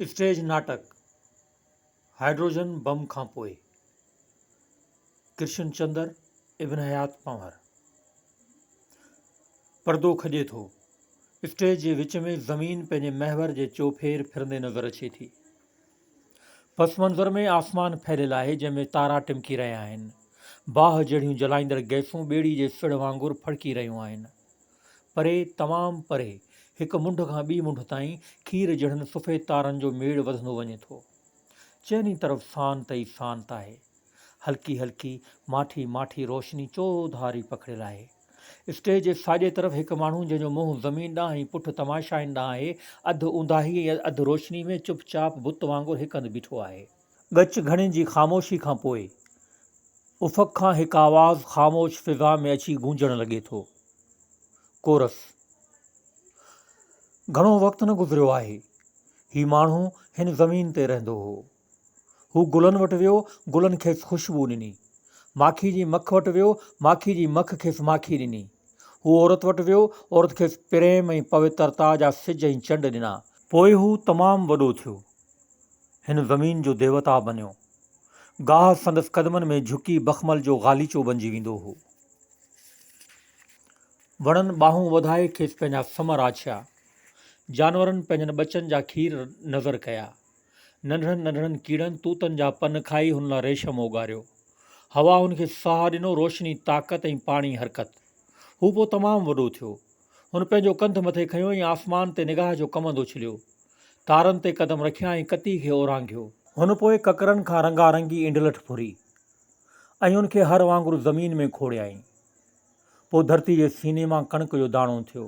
Stage ناٽڪ hydrogen bomb کان پوء ڪرشن چندر ابن حيات پنهور پردو کڄي ٿو. اسٽيج جي وچ ۾ زمين پنهنجي محور جي چوڦير ڦرندي نظر اچي ٿي. پس منظر ۾ آسمان ڦهليل آهي جنهن ۾ تارا ٽمڪي رهيا آهن. باهه جهڙيون جلائيندڙ گئسون ٻيڙي جي سڙهه وانگر ڦڙڪي رهيون آهن. پري، تمام پري، هڪ منڍ کان ٻي منڍ تائين کير جهڙن سفيد تارن جو ميڙ وڌندو وڃي ٿو. چئن ئي طرف سانت ئي سانت آهي. هلڪي هلڪي، ماٺي ماٺي روشني چوڌاري پکڙيل آهي. اسٽيج جي ساڄي طرف هڪ ماڻهو جنهن جو منهن زمين ڏانهن ۽ پٺ تماشائين ڏانهن آهي، اڌ اونداهي ۽ اڌ روشني ۾ چپ چاپ بت وانگر هڪ هنڌ بيٺو آهي. ڳچ گهڻين جي خاموشي کان پوء افق کان هڪ آواز خاموش فضا ۾ اچي گونجڻ لڳي ٿو. ڪورس. گهڻو وقت نه گذريو آهي. هي ماڻهو هن زمين تي رهندو هو. هو گلن وٽ ويو، گلن کيس خوشبو ڏني. ماکي جي مک وٽ ويو، ماکي جي مک کيس ماکي ڏني. هو عورت وٽ ويو، عورت کيس پريم ۽ پوترتا جا سج ۽ چنڊ ڏنا. پوء هو تمام وڏو ٿيو، هن زمين جو ديوتا بنيو. گاهه سندس قدمن ۾ جهڪي بخمل جو غاليچو بنجي ويندو هو. وڻن ٻانهون وڌائي کيس پنهنجا سم راڇيا. جانورن پنهنجن ٻچن جا کير نذر ڪيا. ننڍڙن ننڍڙن ڪيڙن توتن جا پن کائي هن لاء ريشم اوڳاريو. هوا هن کي ساهه ڏنو، روشني طاقت ۽ پاڻي حرڪت. هو پوء تمام وڏو ٿيو. هن پنهنجو ڪنڌ مٿي کنيو ۽ آسمان تي نگاهه جو ڪمند اڇليو. تارن تي قدم رکيا ۽ ڪتي کي اورانگهيو. هن پوء ڪڪرن کان رنگا رنگي انڊلٺ ڦري ۽ ان کي هر وانگر زمين ۾ کوڙيائين. پوء ڌرتي جي سيني مان ڪڻڪ جو داڻو اٿيو.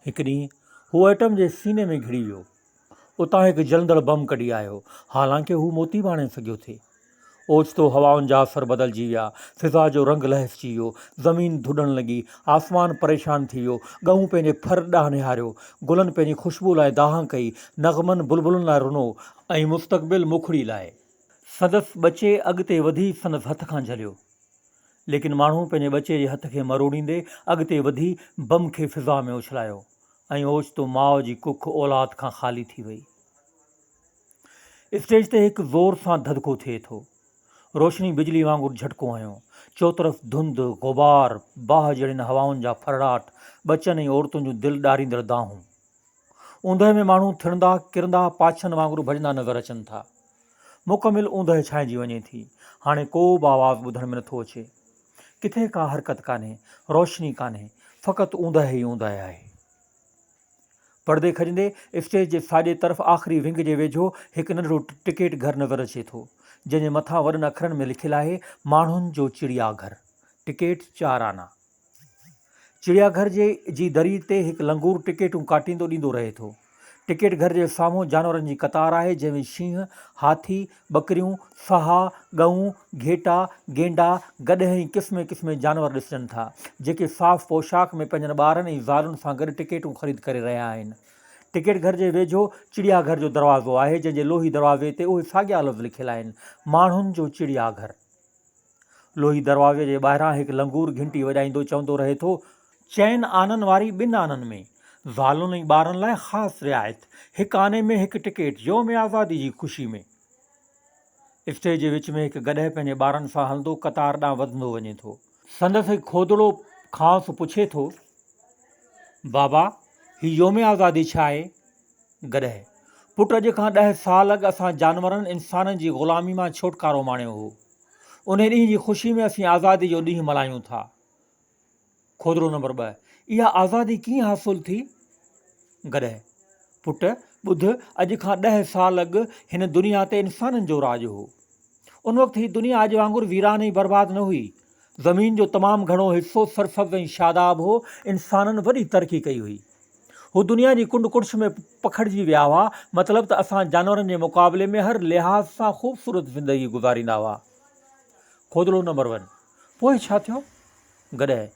هڪ ڏينهن هو ايٽم جي سيني ۾ گهڙي ويو. اتان هڪ جلندڙ بم ڪڍي آيو، حالانڪ هو موتي به آڻي سگهيو ٿي. اوچتو هوائن جا اثر بدلجي ويا، فضا جو رنگ لهسجي ويو، زمين ڌڏڻ لڳي، آسمان پريشان ٿي ويو، ڳئون پنهنجي ڦر ڏانهن نهاريو، گلن پنهنجي خوشبوء لاء دانهن ڪئي، نغمن بلبلن لاء رنو، ۽ مستقبل موکڙي لاء سندس ٻچي اڳتي وڌي سندس هٿ کان جهليو، ليڪن ماڻهو پنهنجي ٻچي جي هٿ کي مروڙيندي اڳتي وڌي بم کي فضا ۾ اڇلايو. ۽ اوچتو ماء جي ڪک اولاد کان خالي ٿي وئي. اسٽيج تي هڪ زور سان ڌڌڪو ٿئي ٿو. روشني بجلي وانگر جهٽڪو هنيو. چوطرف ڌنڌ، غبار، باهه جهڙين هوائن جا ڦرڙاٽ، ٻچن ۽ عورتن جون دل ڏاريندڙ دانهون. اوندهه ۾ ماڻهو ٿڙندا، ڪرندا، پاڇن وانگر ڀڄندا نظر اچن ٿا. مڪمل اوندهه ڇانئجي وڃي ٿي. هاڻي ڪو به آواز ٻڌڻ ۾ نٿو اچي. ڪٿي ڪا حرڪت ڪانهي، روشني ڪانهي، فقط اونداهي ئي اونداهي آهي. پڙدي کڄندي اسٽيج جي ساڄي طرف آخري ونگ جي ويجهو هڪ ننڍڙو ٽڪيٽ گهر نظر اچي ٿو، جنهن جي مٿان وڏن اکرن ۾ لکيل آهي، ماڻهن جو چڙيا گهر، ٽڪيٽ چار آنا. چڙيا گهر جي جي دري تي هڪ لنگور ٽڪيٽون ڪاٽيندو ڏيندو رهي ٿو. ٽڪيٽ گهر جي سامهون جانورن جي قطار آهي جنهن ۾ شينهن، هاٿي، ٻڪريون، سها، ڳئون، گهيٽا، گينڊا، گڏهه ۽ قسمين قسمين جانور ڏسجن ٿا جيڪي صاف پوشاڪ ۾ پنهنجن ٻارن ۽ زالن سان گڏ ٽڪيٽون خريد ڪري رهيا آهن. ٽڪيٽ گهر جي ويجهو چڙيا گهر جو دروازو آهي جنهن جي لوهي دروازي تي اهي ساڳيا لفظ لکيل آهن، ماڻهن جو چڙيا گهر. لوهي دروازي جي ٻاهران هڪ لنگور گهنٽي وڄائيندو چوندو رهي ٿو، چئن آنن واري ٻن آنن ۾ زالن ۽ ٻارن لاء خاص رعايت، هڪ آني ۾ هڪ ٽڪيٽ، يوم آزادي جي خوشي ۾. اسٽيج جي وچ ۾ هڪ گڏهه پنهنجي ٻارن سان هلندو قطار ڏانهن وڌندو وڃي ٿو. سندس هڪ کودڙو کانئس پڇي ٿو، بابا، هي يوم آزادي ڇا آهي؟ گڏهه، پٽ اڄ کان ڏهه سال اڳ اسان جانورن انسانن جي غلامي مان ڇوٽڪارو ماڻيو هو. انهي ڏينهن جي خوشي ۾ اسين آزادي جو ڏينهن ملهايون ٿا. کوڌرو نمبر ٻه، اها آزادي ڪيئن حاصل ٿي؟ گڏهه، پٽ ٻڌ اڄ کان ڏهه سال اڳ هن دنيا تي انسانن جو راڄ هو. ان وقت هي دنيا اڄ وانگر ويران ۽ برباد نه هئي، زمين جو تمام گهڻو حصو سرسبز ۽ شاداب هو. انسانن وڏي ترقي ڪئي هئي. هو دنيا جي ڪنڊ ڪڙڇ ۾ پکڙجي ويا هئا. مطلب ته اسان جانورن جي مقابلي ۾ هر لحاظ سان خوبصورت زندگي گذاريندا هئا. کوڌلو نمبر ون. پوء ڇا ٿيو؟ گڏهه.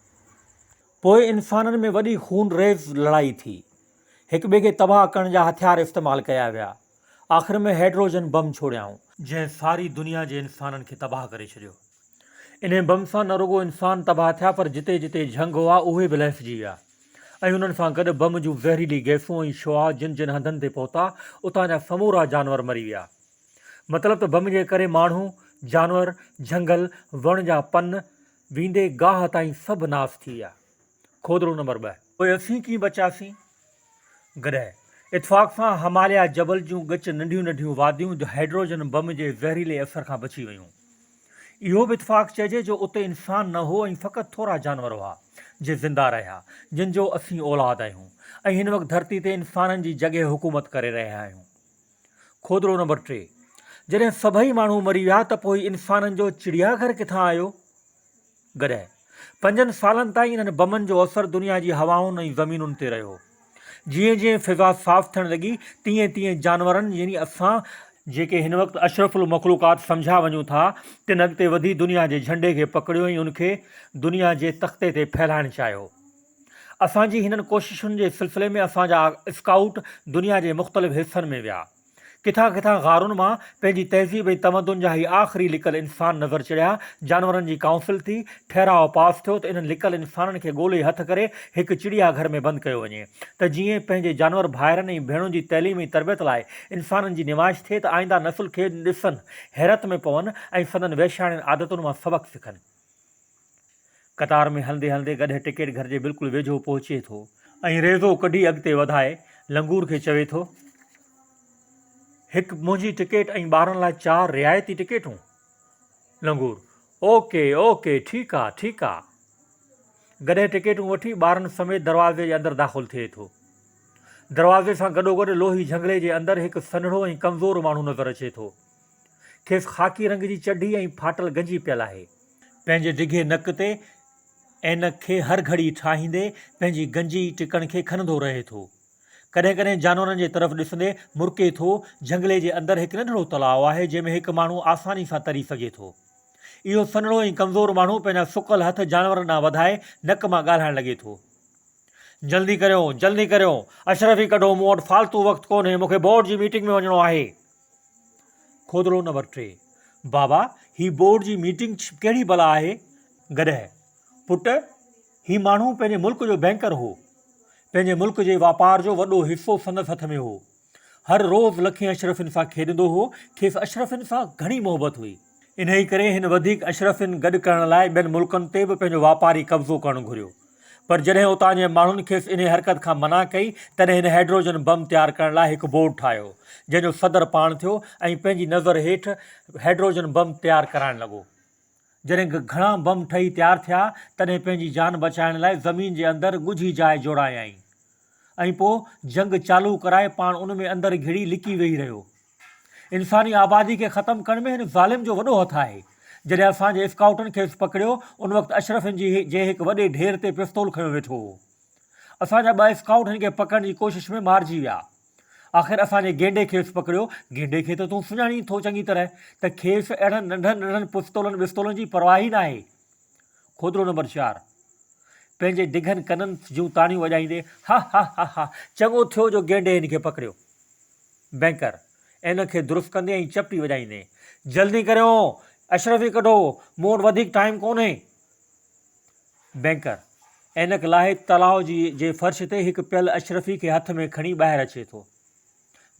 پوء انسانن ۾ وڏي خون ريز لڙائي ٿي. هڪ ٻئي کي تباهه ڪرڻ جا هٿيار استعمال ڪيا ويا. آخر ۾ هئڊروجن بم ڇوڙيائون. جنهن ساري دنيا جي انسانن کي تباهه ڪري ڇڏيو. انهي بم سان نه رڳو انسان تباهه ٿيا پر جتي جتي جهنگ هئا اهي به لهسجي ويا ۽ انهن سان گڏ بم جون زهريلي گئسون ۽ شعاع جن جن هنڌن تي پهتا اتان جا سمورا جانور مري ويا. مطلب ته بم جي ڪري ماڻهو، جانور، جهنگل، وڻ جا پن، ويندي گاهه تائين سڀ ناس ٿي ويا. کوڌڙو نمبر ٻه. پوء اسين ڪيئن بچياسين؟ گڏهه. اتفاق سان هماليا جبل جون ڳچ ننڍيون ننڍيون واديون جو هائيڊروجن بم جي زهريلي اثر کان بچي ويون. اهو به اتفاق چئجي جو اتي انسان نه هو ۽ فقط ٿورا جانور هئا جي زنده رهيا جن جو اسين اولاد آهيون ۽ هن وقت ڌرتي تي انسانن جي جڳهه حڪومت ڪري رهيا آهيون. کوڌڙو نمبر ٽي. جڏهن سڀئي ماڻهو مري ويا ته پوء انسانن جو چڙيا گهر ڪٿان آيو؟ گڏهه. پنجن سالن تائين انهن بمن جو اثر دنيا جي هوائن ۽ زمينن تي رهيو. جيئن جيئن فضا صاف ٿيڻ لڳي، تيئن تيئن جانورن يعني اسان، جيڪي هن وقت اشرف المخلوقات سمجهيا وڃون ٿا، تن اڳتي وڌي دنيا جي جهنڊي کي پڪڙيو ۽ ان کي دنيا جي تختي تي ڦهلائڻ چاهيو. اسان جي هنن ڪوششن جي سلسلي ۾ اسان جا اسڪائوٽ دنيا جي مختلف حصن ۾ ويا. ڪٿان ڪٿان غارن مان پنهنجي تهذيب ۽ تمدن جا هي آخري لڪل انسان نظر چڙهيا. جانورن جي ڪائونسل ٿي. ٺهراء پاس ٿيو ته انهن لڪل انسانن کي ڳولي هٿ ڪري هڪ چڙيا گهر ۾ بند ڪيو وڃي ته جيئن پنهنجي جانور ڀائرن ۽ ڀيڻن جي تعليم ۽ تربيت لاء انسانن جي نمائش ٿئي ته آئنده نسل کي ڏسن حيرت ۾ پون ۽ سندن وحشياڻين عادتن مان سبق سکن. قطار ۾ هلندي هلندي گڏهه ٽڪيٽ گهر جي بلڪل ويجهو پهچي ٿو ۽ ريزو ڪڍي اڳتي وڌائي لنگور کي چوي ٿو، هڪ منهنجي ٽڪيٽ ۽ ٻارن لاء چار رعايتي ٽڪيٽون؟ لنگور، او ڪي او ڪي ٺيڪ آ ٺيڪ آ. گڏهه ٽڪيٽون وٺي ٻارن سميت دروازي جي اندر داخل ٿئي ٿو. دروازي سان گڏوگڏ لوهي جهنگلي جي اندر هڪ سنهڙو ۽ ڪمزور ماڻهو نظر اچي ٿو. کيس خاڪي رنگ جي چڍي ۽ ڦاٽل گنجي پيل آهي. پنهنجي ڊگهي نڪ تي عينڪ کي هر گهڙي ٺاهيندي پنهنجي گنجي ٽڪڻ کي کنندو رهي ٿو. ڪڏهن ڪڏهن جانورن جي طرف ڏسندي مرڪي ٿو. جهنگلي جي اندر هڪ ننڍڙو تلاء آهي جنهن ۾ هڪ ماڻهو آساني سان تري سگهي ٿو. اهو سنهڙو ۽ ڪمزور ماڻهو پنهنجا سڪل هٿ جانورن ڏانهن وڌائي نڪ مان ڳالهائڻ لڳي ٿو. جلدي ڪريو، جلدي ڪريو. اشرفي ڪڍو، مون وٽ فالتو وقت ڪونهي، مون کي بورڊ جي ميٽنگ ۾ وڃڻو آهي. کودڙو نمبر ٽي. بابا، هي بورڊ جي ميٽنگ ڪهڙي بلا آهي؟ گڏهه، پٽ، هي ماڻهو پنهنجي ملڪ جو بئنڪر هو. پنهنجي ملڪ جي واپار جو وڏو حصو سندس هٿ ۾ هو. هر روز لکين اشرفين سان کيڏندو هو. کيس اشرفين سان گهڻي محبت هئي. انهيء ڪري هن وڌيڪ اشرفين گڏ ڪرڻ لاء ٻين ملڪن تي به پنهنجو واپاري قبضو ڪرڻ گهريو. پر جڏهن اتان جي ماڻهن کيس انهي حرڪت کان منع ڪئي، تڏهن هن هيڊروجن بم تيار ڪرڻ لاء هڪ بورڊ ٺاهيو، جنهن جو صدر پاڻ ٿيو ۽ پنهنجي نظر هيٺ هيڊروجن بم تيار ڪرائڻ لڳو. جڏهن گهڻا بم ٺهي تيار ٿيا، تڏهن پنهنجي جان بچائڻ لاء زمين جي اندر ڳجهي جاء جوڙايائين ۽ پوء جنگ چالو ڪرائي پاڻ ان ۾ اندر گهڙي لڪي ويهي رهيو. انساني آبادي کي ختم ڪرڻ ۾ هن ظالم جو وڏو هٿ آهي. جڏهن اسان جي اسڪائوٽن کيس پڪڙيو، ان وقت اشرف هن جي جي هڪ وڏي ڍير تي پستول کنيو ويٺو هو. اسان جا ٻه اسڪائوٽ هن کي پڪڙڻ جي ڪوشش ۾ مارجي ويا. آخر اسان جي گينڊي کيس پڪڙيو. گينڊي کي ته تون سڃاڻين ٿو چڱي طرح ته کيس اهڙن ننڍن ننڍن پستولن وستولن جي پرواهه ئي ناهي. کوترو نمبر چار پنهنجي ڊگهن ڪنن جون تاڙيون وڄائيندي ها ها ها ها چڱو ٿيو جو گينڊي هن کي پڪڙيو. بئنڪر ان کي درست ڪندي ۽ چپٽي وڄائيندي جلدي ڪريو اشرفي ڪڍو مون وٽ وڌيڪ ٽائيم ڪونهي. بئنڪر عينڪ لاهي تلاء جي فرش تي هڪ پيل اشرفي کي هٿ ۾ کڻي ٻاهر اچي ٿو.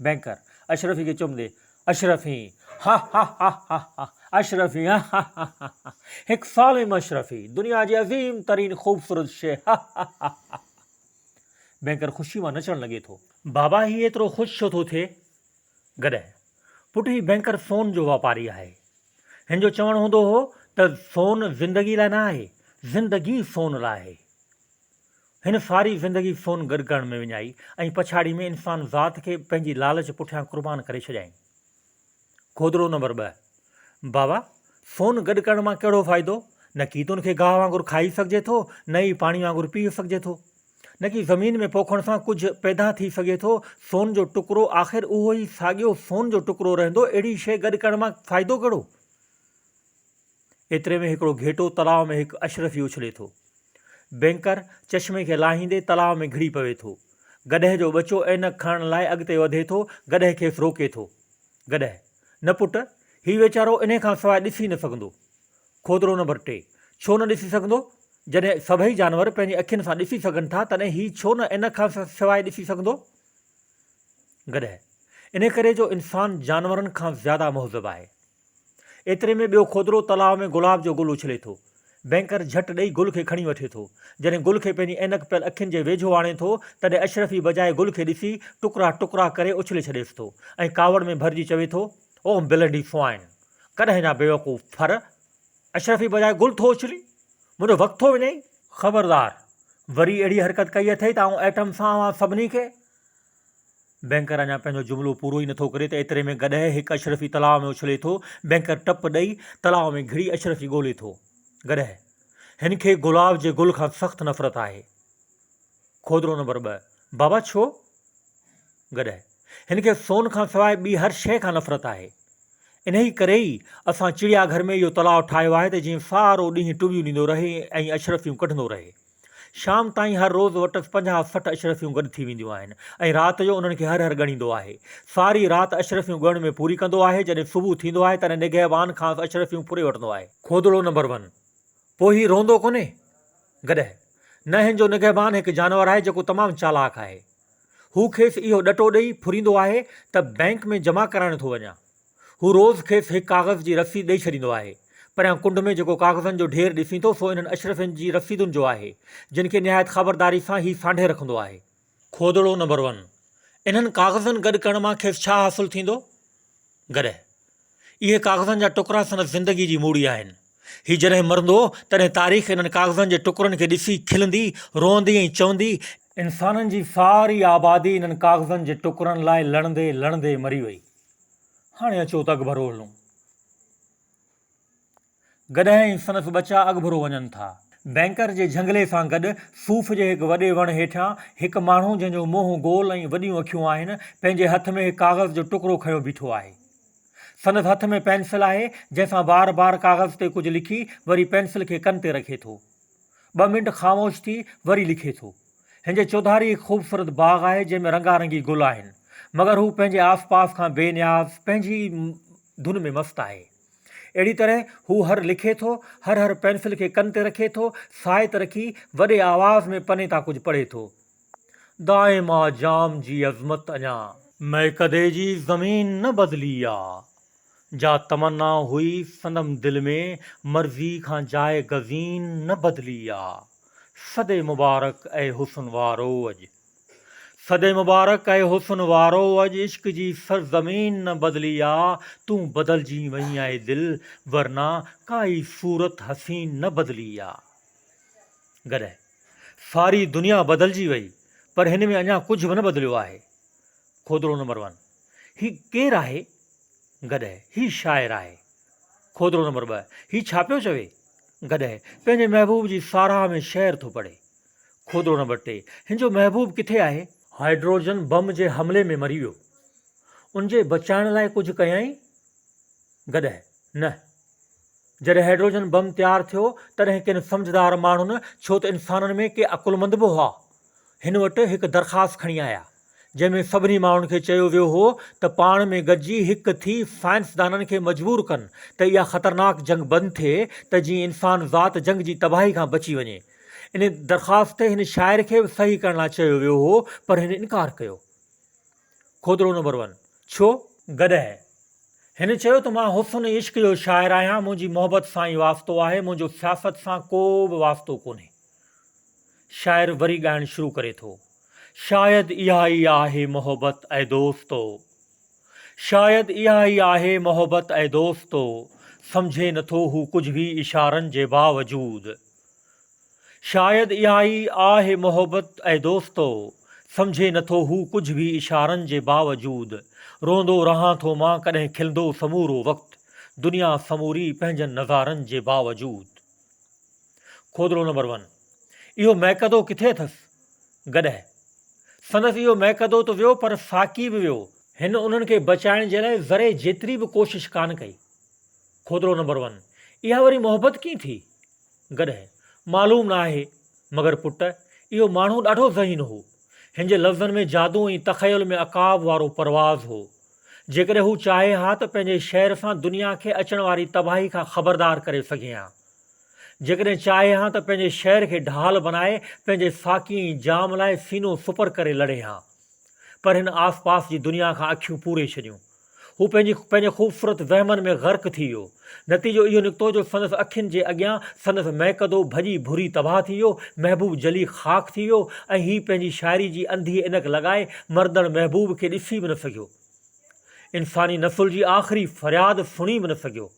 بئنڪر، اشرفي کي چم ڏئي، اشرفي، ها ها ها ها ها، اشرفي، ها ها ها ها ها ها، هڪ سالم اشرفي، دنيا جي عظيم ترين خوبصورت شيء، ها ها ها ها ها ها. بئنڪر خوشيء مان نچڻ لڳي ٿو. بابا هي ايترو خوش ڇو ٿو ٿئي؟ گڏهه، پٽ هي بئنڪر سون جو واپاري آهي. هن جو چوڻ هوندو هو ته سون زندگي لاء نه آهي، زندگي سون لاء آهي. هن ساري زندگي سون گڏ ڪرڻ ۾ وڃائي ۽ پڇاڙي ۾ انسان ذات کي پنهنجي لالچ پٺيان قربان ڪري ڇڏيائين. گودڙو نمبر ٻه، بابا، سون گڏ ڪرڻ مان ڪهڙو فائدو؟ نه ڪي تون کي گاهه وانگر کائي سگهجي ٿو، نه ئي پاڻي وانگر پيئي سگهجي ٿو. نه ڪي زمين ۾ پوکڻ سان ڪجهه پيدا ٿي سگهي ٿو، سون جو ٽڪرو آخر اهو ئي ساڳيو سون جو ٽڪرو رهندو، اهڙي شيء گڏ ڪرڻ مان فائدو ڪهڙو؟ ايتري ۾ هڪڙو گهيٽو تلاء ۾ هڪ اشرفي اڇلي ٿو. بئنڪر چشمي کي لاهيندي تلاء ۾ گهڙي پوي ٿو. گڏهه جو ٻچو عينڪ کڻڻ لاء اڳتي وڌي ٿو، گڏهه کيس روڪي ٿو. گڏهه، نه پٽ، هي ويچارو انهي کان سواء ڏسي نه سگهندو. کوڌرو نمبر ٽي، ڇو نه ڏسي سگهندو؟ جڏهن سڀئي جانور پنهنجي اکين سان ڏسي سگهن ٿا تڏهن هي ڇو نه عينڪ کان سواء ڏسي سگهندو؟ گڏهه، انهي ڪري جو انسان جانورن کان زياده مهذب آهي. ايتري ۾ ٻيو کوترو تلاء ۾ گلاب جو گل اڇلي ٿو. بئنڪر جهٽ ڏئي گل کي کڻي وٺي ٿو. جڏهن گل کي پنهنجي عينڪ پيل اکين جي ويجهو آڻي ٿو، تڏهن اشرفي بجاء گل کي ڏسي، ٽڪرا ٽڪرا ڪري اڇلي ڇڏيس ٿو ۽ ڪاوڙ ۾ ڀرجي چوي ٿو، او بلڊي فوائن! ڪڏهن جا بيوقوف ڦر اشرفي بجاء گل ٿو اڇلين؟ منهنجو وقت ٿو وڃائين؟ خبردار! وري اهڙي حرڪت ڪئي اٿئي ته آئون ايٽم سان اوهان سڀني کي بئنڪر اڃا پنهنجو جملو پورو ئي نٿو ڪري ته ايتري ۾ گڏهه هڪ اشرفي تلاء ۾ اڇلي ٿو. بئنڪر ٽپ ڏئي تلاء ۾ گهڙي اشرفي ڳولي ٿو. گڏهه، هن کي گلاب جي گل کان سخت نفرت آهي. کوڌرو نمبر ٻه، بابا ڇو؟ گڏهه، هن کي سون کان سواء ٻي هر شيء کان نفرت آهي. انهيء ڪري ئي اسان چڙيا گهر ۾ اهو تلاء ٺاهيو آهي ته جيئن سارو ڏينهن ٽٻيون ڏيندو رهي ۽ اشرفيون ڪڍندو رهي. شام تائين هر روز وٽس پنجاهه سٺ اشرفيون گڏ ٿي وينديون آهن ۽ رات جو انهن کي هر هر ڳڻيندو آهي. ساري رات اشرفيون ڳڻڻ ۾ پوري ڪندو آهي، جڏهن صبح ٿيندو آهي تڏهن نگهبان کانئس اشرفيون ڦري وٺندو آهي. کودڙو نمبر ون، پوء هي روئندو ڪونهي؟ گڏهه، نه هن جو نگهبان هڪ جانور آهي جيڪو تمام چالاڪ آهي. هو کيس اهو ڏٽو ڏئي ڦريندو آهي ته بئنڪ ۾ جمع ڪرائڻ ٿو وڃان. هو روز کيس هڪ ڪاغذ جي رسيد ڏئي ڇڏيندو آهي. پريان ڪنڊ ۾ جيڪو ڪاغذن جو ڍير ڏسين ٿو سو انهن اشرفين جي رسيدن جو آهي، جن کي نهايت خبرداري سان هي سانڍي رکندو آهي. کوڌڙو نمبر ون، انهن ڪاغذن گڏ ڪرڻ مان کيس ڇا حاصل ٿيندو؟ گڏهه. اهي ڪاغذن جا ٽڪرا سندس زندگي جي موڙي آهن. هي جڏهن مرندو، تڏهن تاريخ انهن ڪاغذن جي ٽڪرن کي ڏسي کلندي، روئندي ۽ چوندي، انسانن جي ساري آبادي انهن ڪاغذن جي ٽڪرن لاء لڙندي لڙندي مري وئي. هاڻي اچو ته اڳڀرو هلون. گڏهه ۽ سندس ٻچا اڳڀرو وڃن ٿا. بئنڪر جي جهنگلي سان گڏ صوف جي هڪ وڏي وڻ هيٺيان هڪ ماڻهو جنهن جو منهن گول ۽ وڏيون اکيون آهن پنهنجي هٿ ۾ هڪ ڪاغذ جو ٽڪرو کنيو بيٺو آهي. سندس هٿ ۾ پينسل آهي جنهن سان بار بار ڪاغذ تي ڪجهه لکي وري پينسل کي ڪن تي رکي ٿو. ٻه منٽ خاموش ٿي وري لکي ٿو. هن جي چوڌاري هڪ خوبصورت باغ آهي، جنهن ۾ رنگا رنگي گل آهن، مگر هو پنهنجي آس پاس کان بي نياز پنهنجي ئي ڌن ۾ مست آهي. اهڙي طرح هو هر لکي ٿو، هر هر پينسل کي ڪن تي رکي ٿو، ساهه ته رکي، وڏي آواز ۾ پني تان ڪجهه پڙهي ٿو. دائم آ جام جي عظمت اڃان. مئڪدي جي زمين نه بدلي آ. جا تمنا هئي سندم دل ۾، مرضي کان جاء گزين نه بدلي آ. صدي مبارڪ اي حسن وارو اڄ. صدي مبارڪ اي حسن وارو اڄ عشق جي سر زمين نه بدلي آ تون بدلجين وئين اي دل ورنه ڪائي صورت حسين نه بدلي آ گڏهه ساري دنيا بدلجي وئي پر هن ۾ اڃا ڪجهه به نه بدليو آهي کودڙو نمبر ون. هي ڪير آهي گڏهه هي شاعر آهي کوڌرو نمبر ٻه هي ڇا پيو چوي گڏهه پنهنجي محبوب جي ساراهه ۾ شعر ٿو پڙهي کوڌرو نمبر ٽي هن جو محبوب ڪٿي آهي؟ هائڊروجن بم جي حملي ۾ مري ويو ان جي بچائڻ لاء ڪجهه ڪيائين گڏهه نه جڏهن هائڊروجن بم تيار ٿيو تڏهن ڪن سمجهدار ماڻهن ڇو ته انسانن ۾ ڪي عقلمند به هئا هن وٽ هڪ درخواست کڻي آيا، جنهن ۾ سڀني ماڻهن کي چيو ويو هو ته پاڻ ۾ گڏجي هڪ ٿي سائنسدانن کي مجبور ڪن ته اها خطرناڪ جنگ بند ٿئي ته جيئن انسان ذات جنگ جي تباهي کان بچي وڃي. ان درخواست تي هن شاعر کي به صحيح ڪرڻ لاء چيو ويو هو پر هن انڪار ڪيو. کوتڙو نمبر ون، ڇو؟ گڏهه، هن چيو ته مان حسن عشق جو شاعر آهيان، منهنجي محبت سان ئي واسطو آهي، منهنجو سياست سان ڪو به واسطو ڪونهي. شاعر وري ڳائڻ شروع ڪري ٿو. شايد اها ئي آهي محبت اي دوستو شايد اها ئي آهي محبت اي دوستو سمجهي نٿو هو ڪجهه به اشارن جي باوجود شايد اها ئي آهه محبت اي دوستو سمجهي نٿو هو ڪجهه به اشارن جي باوجود روئندو رهان ٿو مان ڪڏهن کلندو سمورو وقت دنيا سموري پنهنجن نظارن جي باوجود. کوڌرو نمبر ون، اهو مئڪدو ڪٿي اٿس؟ گڏهه. سندس اهو مئڪدو ته ويو پر ساقي به ويو. هن انهن کي بچائڻ جي لاء ذري جيتري به ڪوشش ڪانه ڪئي. کوڌرو نمبر ون، اها وري محبت ڪيئن ٿي؟ گڏهه. معلوم نه آهي. مگر پٽ، اهو ماڻهو ڏاڍو ذهين هو. هن جي لفظن ۾ جادو ۽ تخيل ۾ عقاب وارو پرواز هو. جيڪڏهن هو چاهي ها ته پنهنجي شعر سان دنيا کي اچڻ واري تباهي کان خبردار ڪري سگهي ها. جيڪڏهن چاهي ها ته پنهنجي شعر کي ڍال بنائي پنهنجي ساقي ۽ جام لاء سينو سپر ڪري لڙي ها. پر هن آس پاس جي دنيا کان اکيون پوري ڇڏيون. هو پنهنجي پنهنجي خوبصورت وهمن ۾ غرق ٿي ويو. نتيجو اهو نڪتو جو سندس اکين جي اڳيان سندس ميڪدو ڀڄي ڀري تباهه ٿي ويو، محبوب جلي خاڪ ٿي ويو ۽ هي پنهنجي شاعري جي انڌي عينڪ لڳائي مردڙ محبوب کي ڏسي به نه سگهيو. انساني نسل جي آخري فرياد سڻي به نه سگهيو.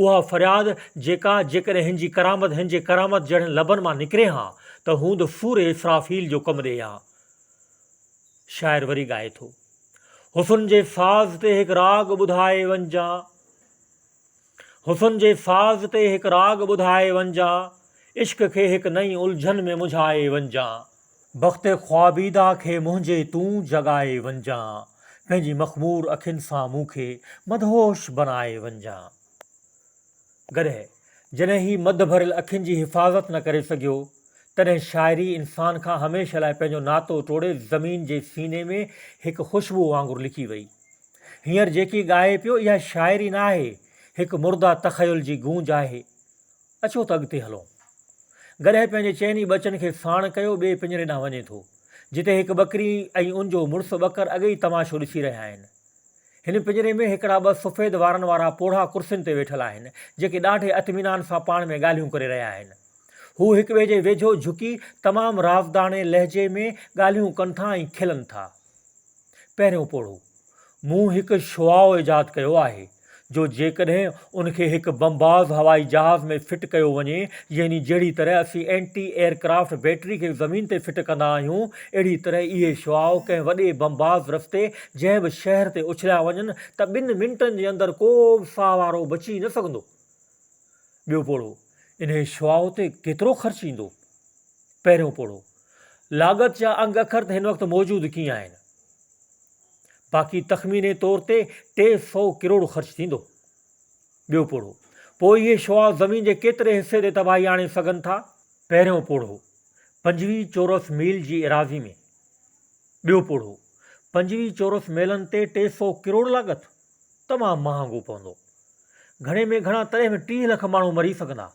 اها فرياد جيڪا جيڪڏهن هن جي ڪرامت هن جي ڪرامت جهڙن لبن مان نڪري ها ته هوند سور اسرافيل جو ڪم ڏئي ها. شاعر وري ڳائي ٿو. حسن جي ساز تي هڪ راڳ ٻڌائي وڃجان حسن جي ساز تي هڪ راڳ ٻڌائي وڃجان عشق کي هڪ نئين الجهن ۾ منجهائي وڃجان. بخت خوابيده کي منهنجي تون جڳائي وڃجان پنهنجي مخمور اکين سان مون کي مدهوش بنائي وڃجان. گڏهه، جڏهن هي مڌ ڀريل اکين جي حفاظت نه ڪري سگهيو، تڏهن شاعري انسان کان هميشه لاء پنهنجو ناتو ٽوڙي زمين جي سيني ۾ هڪ خوشبوء وانگر لڪي وئي. هينئر جيڪي ڳائي پيو اها شاعري نه آهي، هڪ مرده تخيل جي گونج آهي. اچو ته اڳتي هلون. گڏهه پنهنجي چئن ئي ٻچن کي ساڻ ڪيو ٻئي پڃري ڏانهن وڃي ٿو، جتي هڪ ٻڪري ۽ ان جو مڙس ٻڪر اڳي ئي تماشو ڏسي رهيا آهن. هن پڃري ۾ هڪڙا ٻه سفيد وارن وارا پوڙها ڪرسين تي ويٺل آهن، جيڪي ڏاڍي اطمينان سان پاڻ ۾ ڳالهيون ڪري رهيا آهن. هو هڪ ٻئي جي ويجهو جهڪي تمام رازداڻي لهجي ۾ ڳالهيون ڪن ٿا ۽ کلن ٿا. پهريون پوڙهو، مون هڪ شعاع ايجاد ڪيو آهي. جو جيڪڏهن ان کي هڪ بمباز هوائي جهاز ۾ فٽ ڪيو وڃي، يعني جهڙي طرح اسين اينٽي ايئر ڪرافٽ بيٽري کي زمين تي فٽ ڪندا آهيون، اهڙي طرح اهي شعاع ڪنهن وڏي بمباز رستي جنهن به شهر تي اڇليا وڃن ته ٻن منٽن جي اندر ڪو به ساهه وارو بچي نه سگهندو. ٻيو پوڙهو، انهيء شعاع تي ڪيترو خرچ ايندو؟ پهريون پوڙهو، لاڳت جا انگ اکر ته هن وقت موجود ڪين آهن. باقي تخميني طور تي ٽي سؤ ڪروڙ خرچ ٿيندو. ٻيو پوڙهو، پوء اهي شعاع زمين جي ڪيتري حصي تي تباهي آڻي سگهن ٿا؟ پهريون پوڙهو، پنجويهه چورس ميل جي ايراضي ۾. ٻيو پوڙهو، پنجويهه چورس ميلن تي ٽي سؤ ڪروڙ لاڳت؟ تمام مهانگو پوندو. گهڻي ۾ گهڻا تڏهن به ٽيهه لک ماڻهو مري سگهندا،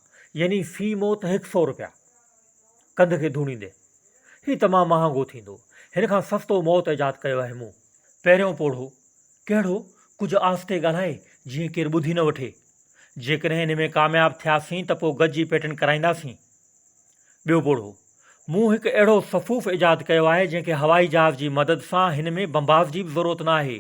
يعني في موت هڪ سؤ رپيا. ڪنڌ کي ڌوڻيندي، هي تمام مهانگو ٿيندو. هن کان سستو موت ايجاد ڪيو آهي مون. پهريون پوڙهو، ڪهڙو؟ ڪجهه آهستي ڳالهاء، جيئن ڪير ٻڌي نه وٺي. جيڪڏهن ان ۾ ڪامياب ٿياسين ته پوء گج جي پيٽنٽ ڪرائينداسين. ٻيو پوڙهو، مون هڪ اهڙو صفوف ايجاد ڪيو آهي، جنهن کي هوائي جهاز جي مدد سان هن ۾ بمباز جي به ضرورت نه آهي.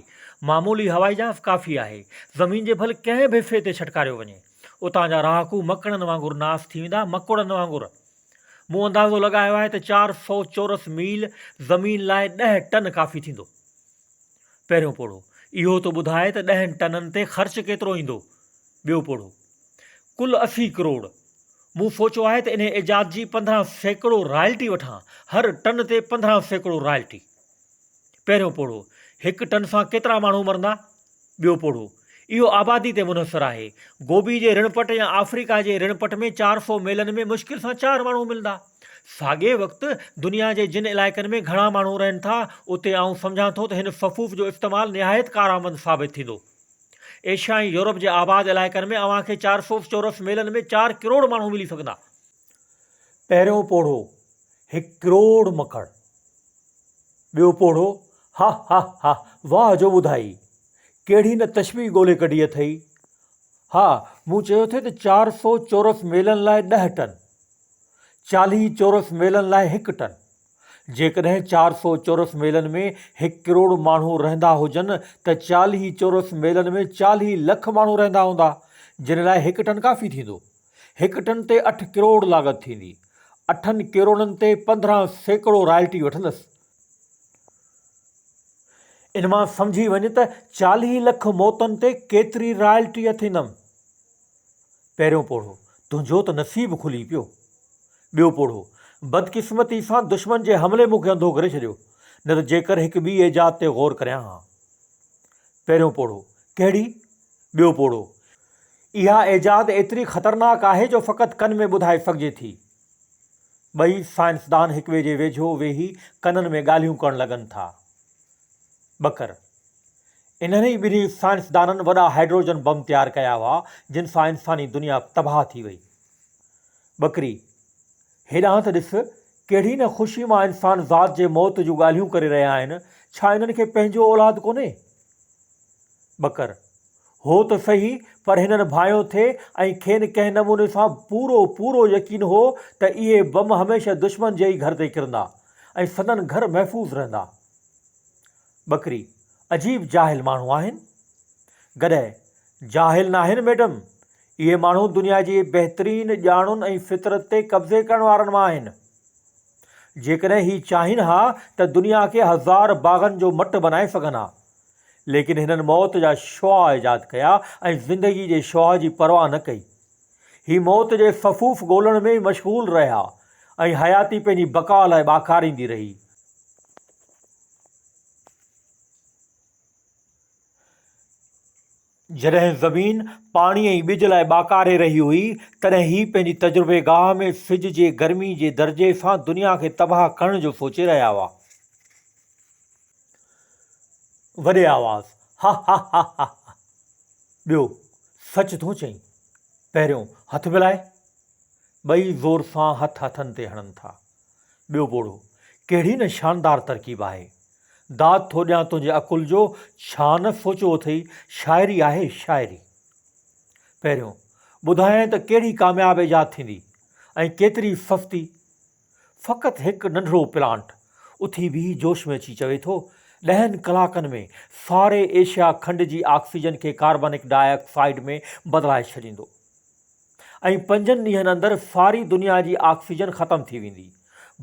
معمولي هوائي جهاز ڪافي آهي. زمين جي ڀل ڪنهن به حصي تي ڇٽڪاريو وڃي. اتان جا رهاڪو مڪڙن وانگر ناس ٿي ويندا، مڪوڙن وانگر. مون اندازو لڳايو آهي ته چار سؤ چورس ميل زمين لاء ڏهه ٽن ڪافي ٿيندو. پهريون پوڙهو اهو ٿو ٻڌائي ته ڏهن ٽنن تي خرچ ڪيترو ايندو. ٻيو پوڙهو ڪل اسي ڪروڙ. مون سوچو آهي ته انهي ايجاد جي پندرهن سيڪڙو رائلٽي وٺان، هر ٽن تي پندرهن سيڪڙو رائلٽي. پهريون پوڙهو هڪ ٽن سان ڪيترا ماڻهو مرندا؟ ٻيو پوڙهو، اهو آبادي تي منحصر آهي. گوبي جي رڻ پٽ يا آفريڪا جي رڻ پٽ ۾ چار سؤ ميلن ۾ مشڪل سان چار ماڻهو ملندا. ساڳئي وقت، دنيا جي جن علائقن ۾ گهڻا ماڻهو رهن ٿا، اتي آئون سمجهان ٿو ته هن صفوف جو استعمال نهايت ڪارآمد ثابت ٿيندو. ايشيا ۽ يورپ جي آباد علائقن ۾ اوهان کي چار سؤ چورس ميلن ۾ چار ڪروڙ ماڻهو ملي سگهندا. پهريون پوڙهو، هڪ ڪروڙ مکڙ. ٻيو پوڙهو، ها ها ها، واهه جو ٻڌائي، ڪهڙي نه تشبيهه ڳولي ڪڍي اٿئي. ها، مون چيو ٿي ته چار سو چورس ميلن لاء ڏهه ٽن، چاليهه چورس ميلن لاء هڪ ٽن. جيڪڏهن چار سو چورس ميلن ۾ هڪ ڪروڙ ماڻهو رهندا هجن ته چاليهه چورس ميلن ۾ چاليهه لک ماڻهو رهندا هوندا، جن لاء هڪ ٽن ڪافي ٿيندو. هڪ ٽن تي اٺ ڪروڙ لاڳت ٿيندي. اٺن ڪروڙن تي پندرهن سيڪڙو رائلٽي وٺندس. ان مان سمجهي وڃ ته چاليهه لک موتن تي ڪيتري رائلٽي اٿيندم. پهريون پوڙهو، تنهنجو ته نصيب کلي پيو. ٻيو پوڙهو، بدقسمتي سان دشمن جي حملي مون کي انڌو ڪري ڇڏيو، نه ته جيڪر هڪ ٻي ايجاد تي غور ڪريان ها. پهريون پوڙهو، ڪهڙي؟ ٻيو پوڙهو، اها ايجاد ايتري خطرناڪ آهي جو فقط ڪن ۾ ٻڌائي سگهجي ٿي. ٻئي سائنسدان هڪٻئي جي ويجهو ويهي ڪنن ۾ ڳالهيون ڪرڻ لڳن ٿا. بڪر، انهن ئي ٻنهي سائنسدانن وڏا هائيڊروجن بم تيار ڪيا هئا، جن سان انساني دنيا تباهه ٿي وئي. بڪري، هيڏانهن ته ڏس، ڪهڙي نه خوشي مان انسان ذات جي موت جون ڳالهيون ڪري رهيا آهن، ڇا انهن کي پنهنجو اولاد ڪونهي؟ ٻڪر، هو ته سهي پر هنن ڀانئيو ٿي ۽ کين ڪنهن نموني سان پورو پورو يقين هو ته اهي بم هميشه دشمن جي ئي گهر تي ڪرندا ۽ سندن گهر محفوظ رهندا. ٻڪري، عجيب جاهل ماڻهو آهن. گڏهه، جاهل ناهن ميڊم، اهي ماڻهو دنيا جي بهترين ڄاڻن ۽ فطرت تي قبضي ڪرڻ وارن مان آهن. جيڪڏهن هي چاهين ها ته دنيا کي هزار باغن جو مٽ بنائي سگهن ها. ليڪن هنن موت جا شعاع ايجاد ڪيا ۽ زندگي جي شعاع جي پرواهه نه ڪئي. هي موت جي سفوف ڳولڻ ۾ ئي مشغول رهيا ۽ حياتي پنهنجي بقاء لاء ٻاکاريندي رهي. جڏهن زمين پاڻي ۽ ٻج لاء ٻاڪاري رهي هئي، تڏهن هي پنهنجي تجربيگاهه ۾ سج جي گرمي جي درجي سان دنيا کي تباهه ڪرڻ جو سوچي رهيا هئا. وڏي آواز، هاهاهاهاها! ٻيو، سچ ٿو چئين! پهريون، هٿ ملائي! ٻئي زور سان هٿ هٿن تي هڻن ٿا. ٻيو ٻوڙو، ڪهڙي نه شاندار ترڪيب آهي. داد ٿو ڏيان تنهنجي عقل جو، ڇا نه سوچيو اٿئي، شاعري آهي شاعري. پهريون، ٻڌايائين ته ڪهڙي ڪامياب ايجاد ٿيندي ۽ ڪيتري سستي. فقط هڪ ننڍڙو پلانٽ اٿي بيهي جوش ۾ اچي چوي ٿو، ڏهن ڪلاڪن ۾ ساري ايشيا کنڊ جي آڪسيجن کي ڪاربنڪ ڊاء آڪسائيڊ ۾ بدلائي ڇڏيندو. ۽ پنجن ڏينهن اندر ساري دنيا جي آڪسيجن ختم ٿي ويندي.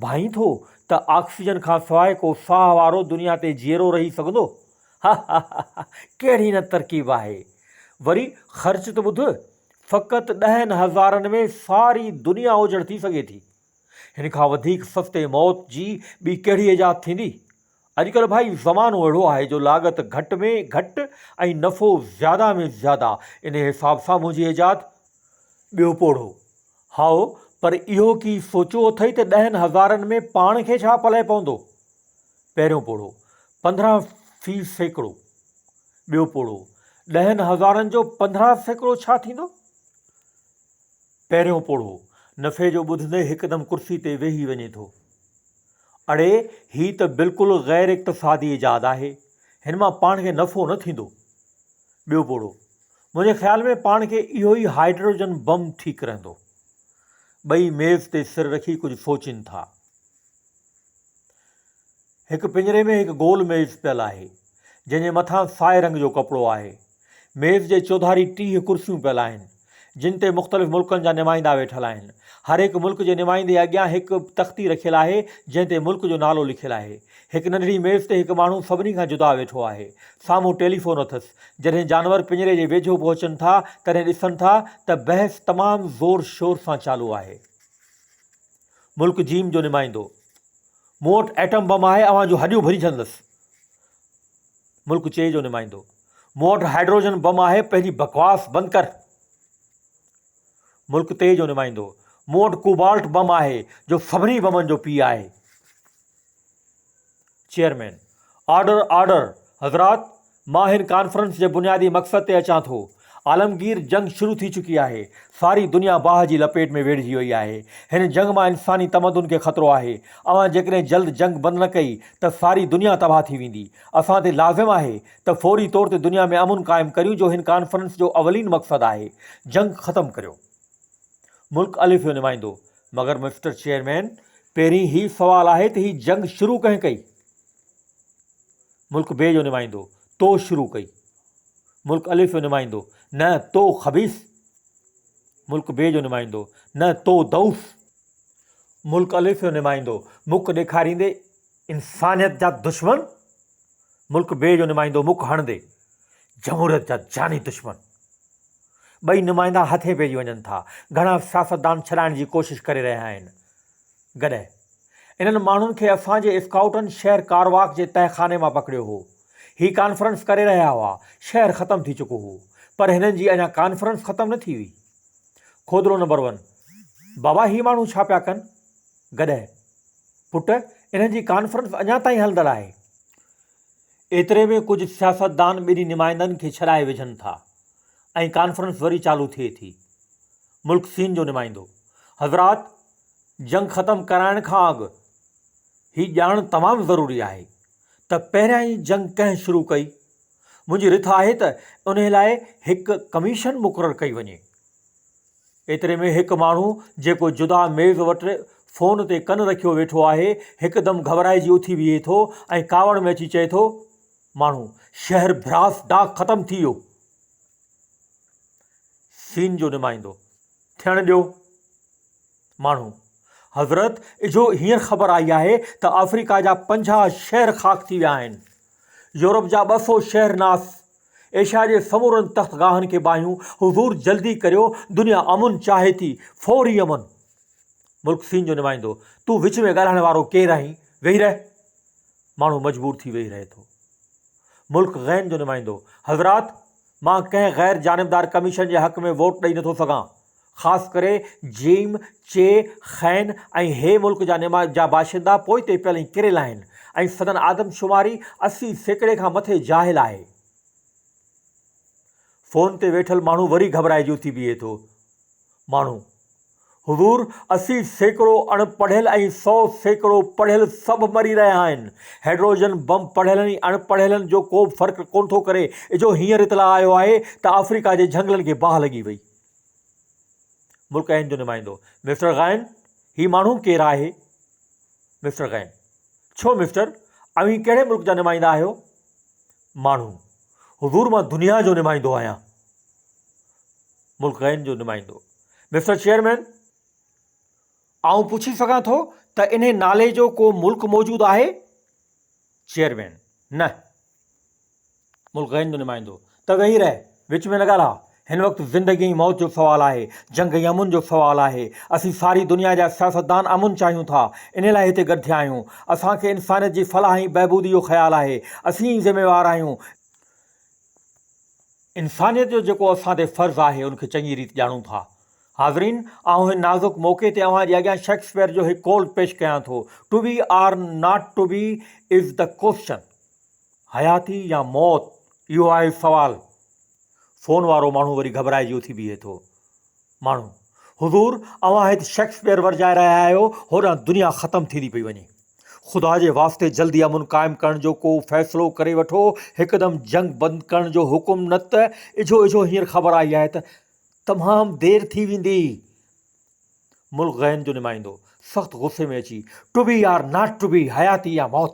ڀائين ٿو ته آڪسيجن کان سواء ڪو ساهه وارو دنيا تي جيئرو رهي سگهندو؟ هههههه ڪهڙي نه ترڪيب آهي. وري خرچ ته ٻڌ، فقط ڏهن هزارن ۾ ساري دنيا اوجهڙ ٿي سگهي ٿي. هن کان وڌيڪ سستي موت جي ٻي ڪهڙي ايجاد ٿيندي؟ اڄڪلهه ڀائي زمانو اهڙو آهي جو لاڳت گهٽ ۾ گهٽ ۽ نفعو زياده ۾ زياده انهي حساب سان منهنجي ايجاد ٻيو پوڙهو هائو پر اهو ڪي سوچيو اٿئي ته ڏهن هزارن ۾ پاڻ کي ڇا پلئه پوندو پهريون پوڙهو پندرهن في سيڪڙو ٻيو پوڙهو ڏهن هزارن جو پندرهن سيڪڙو ڇا ٿيندو پهريون پوڙهو نفعي جو ٻڌندي هڪدم ڪرسي تي ويهي وڃي ٿو. اڙي هي ته بلڪل غير اقتصادي ايجاد آهي، هن مان پاڻ کي نفعو نه ٿيندو. ٻيو پوڙهو، منهنجي خيال ۾ پاڻ کي اهو ئي هائيڊروجن بم ٺيڪ رهندو. ٻئي ميز تي سر رکي ڪجهه سوچين ٿا. هڪ پڃري ۾ هڪ گول ميز پيل آهي، جنهن جي مٿان سائي رنگ جو ڪپڙو آهي. ميز جي چوڌاري ٽيهه ڪرسيون پيل آهن، جن تي مختلف ملڪن جا نمائندا ويٺل آهن. هر هڪ ملڪ جي نمائندي اڳيان هڪ تختي رکيل آهي، جنهن تي ملڪ جو نالو لکيل آهي. هڪ ننڍڙي ميز تي هڪ ماڻهو سڀني کان جدا ويٺو آهي. سامهون ٽيليفون اٿس. جڏهن جانور پڃري جي ويجهو پهچن ٿا، تڏهن ڏسن ٿا ته بحث تمام زور شور سان چالو آهي. ملڪ جيم جو نمائندو، مون وٽ ايٽم بم آهي، اوهان جون هڏيون ڀري ڇڏندس. ملڪ چي جو نمائندو، مون وٽ هائيڊروجن بم آهي پنهنجي بڪواس بند ڪر ملڪ تيء جو نمائندو مون وٽ ڪوبالٽ بم آهي جو سڀني بمن جو پيء آهي چيئرمين آرڊر آرڊر حضرات مان هن ڪانفرنس جي بنيادي مقصد تي اچان ٿو عالمگير جنگ شروع ٿي چڪي آهي ساري دنيا باهه جي لپيٽ ۾ ويڙهجي وئي آهي هن جنگ مان انساني تمدن کي خطرو آهي اوهان جيڪڏهن جلد جنگ بند نه ڪئي ته ساري دنيا تباهه ٿي ويندي اسان تي لازم آهي ته فوري طور تي دنيا ۾ امن قائم ڪريون جو هن ڪانفرنس جو اولين مقصد آهي جنگ ختم ڪريو ملڪ الف جو نمائندو مگر مسٽر چيئرمين پهرين هي سوال آهي ته هي جنگ شروع ڪنهن ڪئي ملڪ بي جو نمائندو تو شروع ڪئي ملڪ الف جو نمائندو نه تو خبيث ملڪ بي جو نمائندو نه تو دوس ملڪ الف جو نمائندو مک ڏيکاريندي انسانيت جا دشمن ملڪ بي جو نمائندو مک هڻندي جمهوريت جا جاني دشمن ٻئي نمائندا هٿين پئجي وڃن ٿا گهڻا سياستدان ڇڏائڻ جي ڪوشش ڪري رهيا آهن گڏهه انهن ماڻهن کي اسان جي اسڪائوٽن شهر ڪارواڪ جي تهخاني مان پڪڙيو هو هي ڪانفرنس ڪري رهيا هئا شهر ختم ٿي چڪو هو پر هنن جي اڃا ڪانفرنس ختم نه ٿي هئي کودرو نمبر ون بابا هي ماڻهو ڇا پيا ڪن گڏهه، پٽ، انهن جي ڪانفرنس اڃا تائين هلندڙ آهي. ايتري ۾ ڪجهه سياستدان ٻنهي نمائندن کي ڇڏائي وجهن ٿا ۽ ڪانفرنس وري چالو ٿئي ٿي. ملڪ سين جو نمائندو، حضرات، جنگ ختم ڪرائڻ کان اڳ هي ڄاڻڻ تمام ضروري آهي ته پهريائين جنگ ڪنهن شروع ڪئي؟ منهنجي رٿ آهي ته انهي لاء هڪ ڪميشن مقرر ڪئي وڃي. ايتري ۾ هڪ ماڻهو جيڪو جدا ميز وٽ فون تي ڪن رکيو ويٺو آهي، هڪدم گهٻرائجي اٿي بيهي ٿو ۽ ڪاوڙ ۾ اچي چئي ٿو، ماڻهو، شهر ڀراس ڊاڪ ختم ٿي ويو. سين جو نمائندو ٿيڻ ڏيو. ماڻهو. حضرت اجهو هينئر خبر آئي آهي ته آفريڪا جا پنجاهه شهر خاڪ ٿي ويا آهن. يورپ جا ٻه سو شهر ناس. ايشيا جي سمورن تخت گاهن کي باهيون. حضور جلدي ڪريو دنيا امن چاهي ٿي. فوري امن. ملڪ سين جو نمائندو. تون وچ ۾ ڳالهائڻ وارو ڪير آهين؟ ويهي رهه. ماڻهو مجبور ٿي ويهي رهي ٿو. ملڪ غين جو نمائندو. حضرات! مان ڪنهن غير جانبدار ڪميشن جي حق ۾ ووٽ ڏئي نٿو سگهان. خاص ڪري جيم، چي، خين ۽ هي ملڪ جا نما جا باشندا پوئتي پيل ۽ ڪريل آهن ۽ سندن آدمشماري اسي سيڪڙي کان مٿي جاهل آهي. فون تي ويٺل ماڻهو وري گهٻرائجي اٿي بيهي ٿو. ماڻهو، حضور اسي سيڪڙو اڻ پڙهيل ۽ سؤ سيڪڙو پڙهيل سڀ مري رهيا آهن. هيڊروجن بم پڙهيلن ۽ اڻ پڙهيلن جو ڪوبه فرق ڪونه ٿو ڪري. اجهو هينئر اطلاع آيو آهي ته آفريڪا جي جهنگلن کي باهه لڳي وئي. ملڪ هند جو نمائندو، مسٽر غائن، هي ماڻهو ڪير آهي؟ مسٽر غائن، ڇو مسٽر، اوهين ڪهڙي ملڪ جا نمائندا آهيو؟ ماڻهو، حضور مان دنيا جو نمائندو آهيان. ملڪ غائن جو نمائندو، مسٽر چيئرمين، آئون پڇي سگهان ٿو ته انهي نالي جو ڪو ملڪ موجود آهي؟ چيئرمين، نه. ملڪ هند جو نمائندو ته ويهي رهه، وچ ۾ نه ڳالهاء. هن وقت زندگي ۽ موت جو سوال آهي، جنگ ۽ امن جو سوال آهي. اسين ساري دنيا جا سياستدان امن چاهيون ٿا، انهي لاء هتي گڏ ٿيا آهيون. اسان کي انسانيت جي فلاح ۽ بهبودي جو خيال آهي. اسين ئي ذميوار آهيون. انسانيت جو جيڪو اسان تي فرض آهي، ان کي چڱي ريت ڄاڻون ٿا. حاضرين! آئون هن نازڪ موقعي تي اوهان جي اڳيان شيڪسپيئر جو هڪ قول پيش ڪيان ٿو، To be or not to be is the question. حياتي يا موت اهو آهي سوال. فون وارو ماڻهو وري گهٻرائجي اٿي بيهي ٿو. ماڻهو، حضور اوهان هت شيڪسپيئر ورجائي رهيا آهيو، هوڏانهن دنيا ختم ٿيندي پئي وڃي. خدا جي واسطي جلدي امن قائم ڪرڻ جو ڪو فيصلو ڪري وٺو، هڪدم جنگ بند ڪرڻ جو حڪم نه ته اجهو اجهو هينئر خبر آئي آهي ته تمام دير ٿي ويندي. ملڪ غين جو نمائندو سخت غصي ۾ اچي to be or not to be حياتي يا موت.